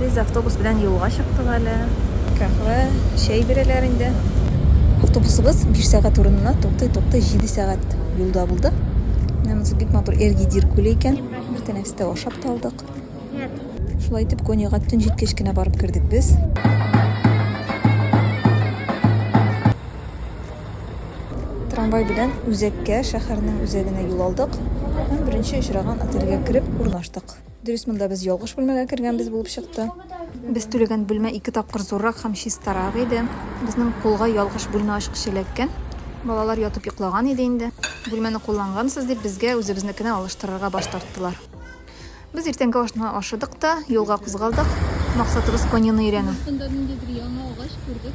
Без автобус белән юлга чыктык әле. Каһвә, чәй бирәләр инде. Автобусыбыз биш сәгать урынына туктый-туктый җиде сәгать юлда булды. Менә монысы бик матур Эргидир күле икән. Бер тәнәфестә ашап та алдык. Шулай итеп, Коньяга төн җиткәч кенә барып кердек без. Трамвай белән үзәккә, шәһәрнең үзәгенә юл алдык һәм беренче очраган отельгә кереп урнаштык. Дөрес, монда без ялгыш бүлмәгә кергәнбез булып чыкты. Без түләгән бүлмә ике тапкыр зуррак һәм чистарак иде. Безнең кулга ялгыш бүлмә ачкычы эләккән. Балалар ятып йоклаган иде инде. Бүлмәне куллангансыз дип, безгә үзебезнекенә алыштырырга баш тарттылар. Без иртәнге ашны ашыдык та, юлга кузгалдык. Максатыбыз коньяны өйрәнү. Без монда ниндидер яңа агач күрдек.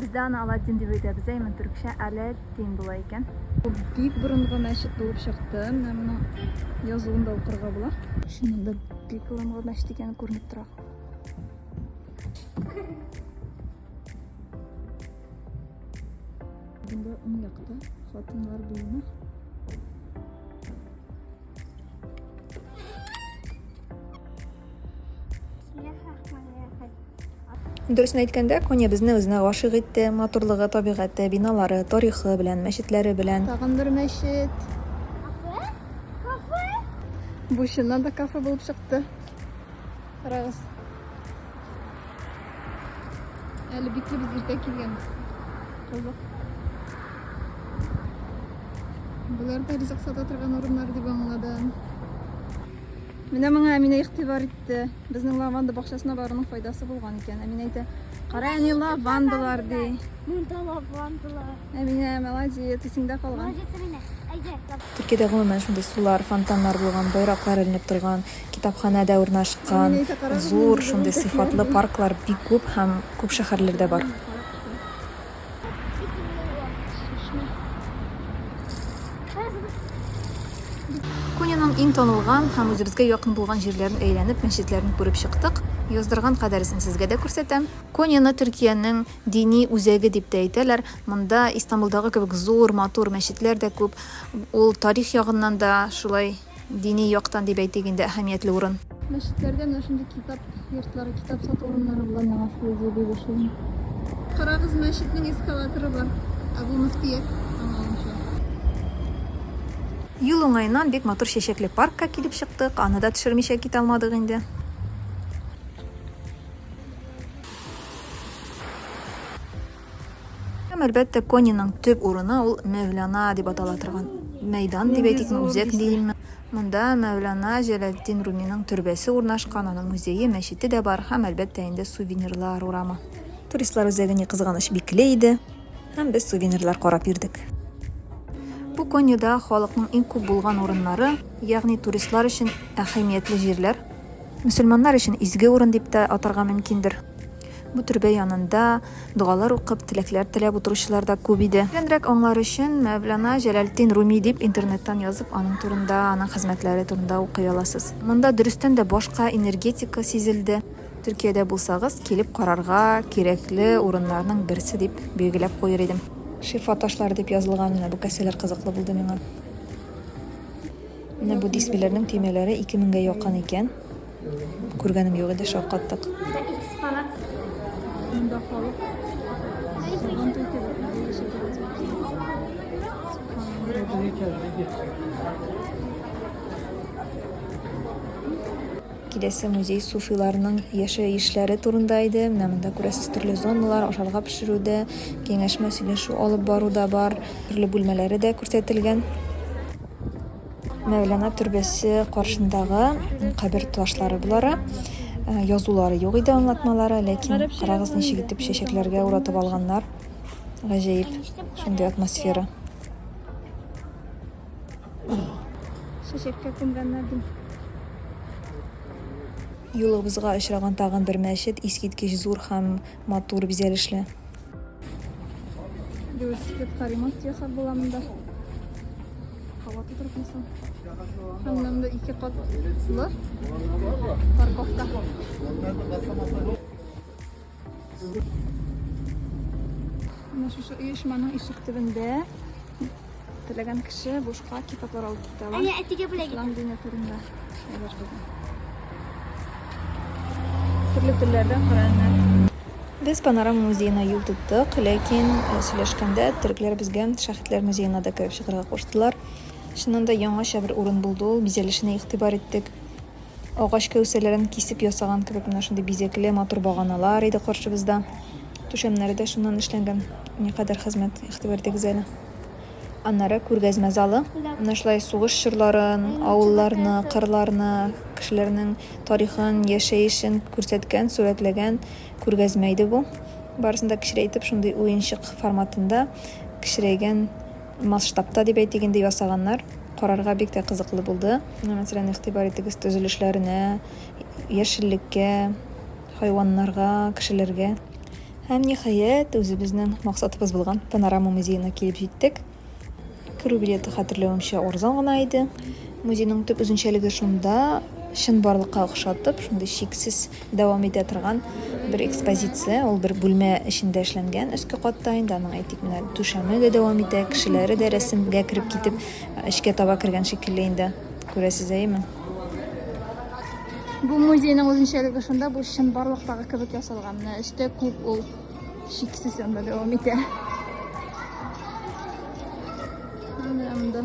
Бездә аны Аладдин дип әйтәбез, әймен төрекчә Әләддин була икән. Бу бик борынгы мәчет булып чыкты, менә моның язуын да укырга була. Чыннан да бик борынгы мәчет икәне күренеп тора. Бында уң якта хатыннар буена Дөресен әйткәндә, Коня безне үзенә гашыйк итте. Матурлыгы, табигате, биналары, тарихы белән, мәчетләре белән. Тагын бер мәчет. Кафе? Кафе? Бу чыннан да кафе булып чыкты. Карагыз. Әле бикле без иртә килгәнбез. Кызык. Болар да ризык сата торган урыннар дип аңладым. Менә моңа Әминә игътибар итте. Безнең лаванда бакчасына баруның файдасы булган икән. Әминә әйтә, "Кара әни лавандалар" ди. Монда лавандалар. Әминә, молодец, исеңдә калган. Төркиядә гомумән шундый сулар, фонтаннар булган, байраклар эленеп торган Китапханә дә урнашкан, зур, шундый сыйфатлы парклар бик күп һәм күп шәһәрләрдә бар. Коняның иң танылган һәм үзебезгә якын булган җирләрен әйләнеп, мәчетләрен күреп чыктык. Яздырган кадәресен сезгә дә күрсәтәм. Коняны Төркиянең дини үзәге дип тә әйтәләр. Монда Истанбулдагы кебек зур, матур мәчетләр дә күп. Ул тарих ягыннан да шулай Дини яктан дип әйтик инде, әһәмиятле урын. Мәчетләрдә менә шундый китап йортлары, китап сату урыннары була миңа шул идея бик ошый. Карагыз, мәчетнең эскалаторы бар. Ә булмас киек, аңлавымча. Юл уңаеннан бик матур чәчәкле паркка килеп чыктык, аны да төшермичә китә алмадык инде. Һәм, әлбәттә, Кониның төп урыны ул Мәүлана дип атала торган мәйдан дип әйтикме, үзәк диимме, монда Мәүлана Җәләлетдин Руминың төрбәсе урнашкан, аның музее, мәчете дә бар һәм, әлбәттә инде, Сувенирлар урамы. Туристлар үзәге, ни кызганыч, бикле иде һәм без сувенирлар карап йөрдек. Бу Конида халыкның иң күп булган урыннары, ягъни туристлар өчен әһәмиятле җирләр. Мөселманнар өчен изге урын дип тә атарга мөмкиндер. Бу төрбә янында догалар укып, теләкләр теләп утыручылар да күп иде. Тирәнрәк аңлар өчен Мәвлана Җәләлетдин Руми дип интернеттан язып, аның турында, аның хезмәтләре турында укый аласыз. Монда дөрестән дә башка энергетика сизелде. Төркиядә булсагыз, килеп карарга кирәкле урыннарның берсе дип билгеләп куер идем. Шифа ташлары дип язылган менә бу кәсәләр кызыклы булды миңа. Менә бу дисбиләрнең төймәләре ике меңгә якын икән. Күргәнем юк иде, шаккаттык. Экспонат. Монда халык. Сабан туй киләсе музей суфиларның яшәешләре турында иде. Менә монда күрәсез төрле зоналар, ашарга пешерүдә, киңәшмә сөйләшү алып баруда бар, төрле бүлмәләре дә күрсәтелгән. Мәүлана төрбәсе каршындагы кабер ташлары болары. Э, язулары юк иде аңлатмалары, ләкин карагыз ничек итеп чәчәкләргә уратып алганнар. Гаҗәеп, шундый атмосфера. Чәчәккә күмгәннәр ди. Юлыбызга очраган тагын бер мәчет, искиткеч зур һәм матур бизәлешле. Велосипедка ремонт ясап була монда. Һава тутырып мисал. Аннан да ике катлы парковка. Менә шушы оешманың ишек төбендә Теләгән кеше бушка китаплар алып китә ала. Әйе, әтигә бүләк итә. Ислам дине турында шулар булган. Төрле телләрдә Коръәннәр. Без Панорама музеена юл тоттык, ләкин э, сөйләшкәндә төрекләр безгә Шәхетләр музеена да кереп чыгарга куштылар. Чыннан да яңача бер урын булды ул, бизәлешенә игътибар иттек. Агач кәүсәләрен кисеп ясаган кебек менә шундый бизәкле, матур баганалар иде каршыбызда. Түшәмнәре дә шуннан эшләнгән. Никадәр хезмәт, игътибар итегез әле. Аннары күргәзмә залы. Менә шулай сугыш чорларын, авылларны, кырларны, кешеләрнең тарихын, яшәешен күрсәткән, сурәтләгән күргәзмә иде бу. Барысын да кечерәйтеп, шундый уенчык форматында кечерәйгән Масштабта, дип әйтик инде, ясаганнар. Карарга бик тә кызыклы булды. Мәсәлән, игътибар итегез төзелешләренә, яшеллеккә, хайваннарга, кешеләргә. Һәм, ниһаять, үзебезнең максатыбыз булган Панорама музеена килеп җиттек. Керү билеты, хәтерләвемчә, арзан гына иде. Музейның төп үзенчәлеге шунда, чынбарлыкка охшатып, шундый чиксез дәвам итә торган бер экспозиция. Ул бер бүлмә эчендә эшләнгән өске катта инде аның әйтик менә түшәме дә дәвам итә, кешеләре дә рәсемгә кереп китеп эчкә таба кергән шикелле инде. Күрәсез әйеме? Бу музейның үзенчәлеге шунда, бу чын барлыктагы кебек ясалган. Менә эчтә күп ул шиксез анда дәвам итә. Анда.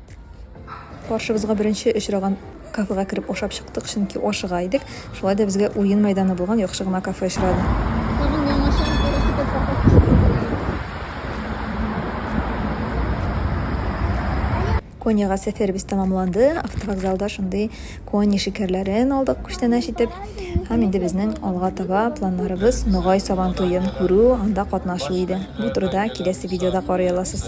Каршыбызга беренче очраган кафега кереп ашап чыктык, чөнки ашыга идек. Шулай да безгә уен мәйданы булган яхшы гына кафе очрады. Тагын яңача үзгәрәсе бер кафе кичәсен теләгез. Коньяга сәфәребез тәмамланды. Автовокзалда шундый Кони шикәрләрен алдык күчтәнәч итеп. Һәм инде безнең алга таба планнарыбыз Ногай Сабантуен күрү, анда катнашу иде. Бу турыда киләсе видеода карый аласыз.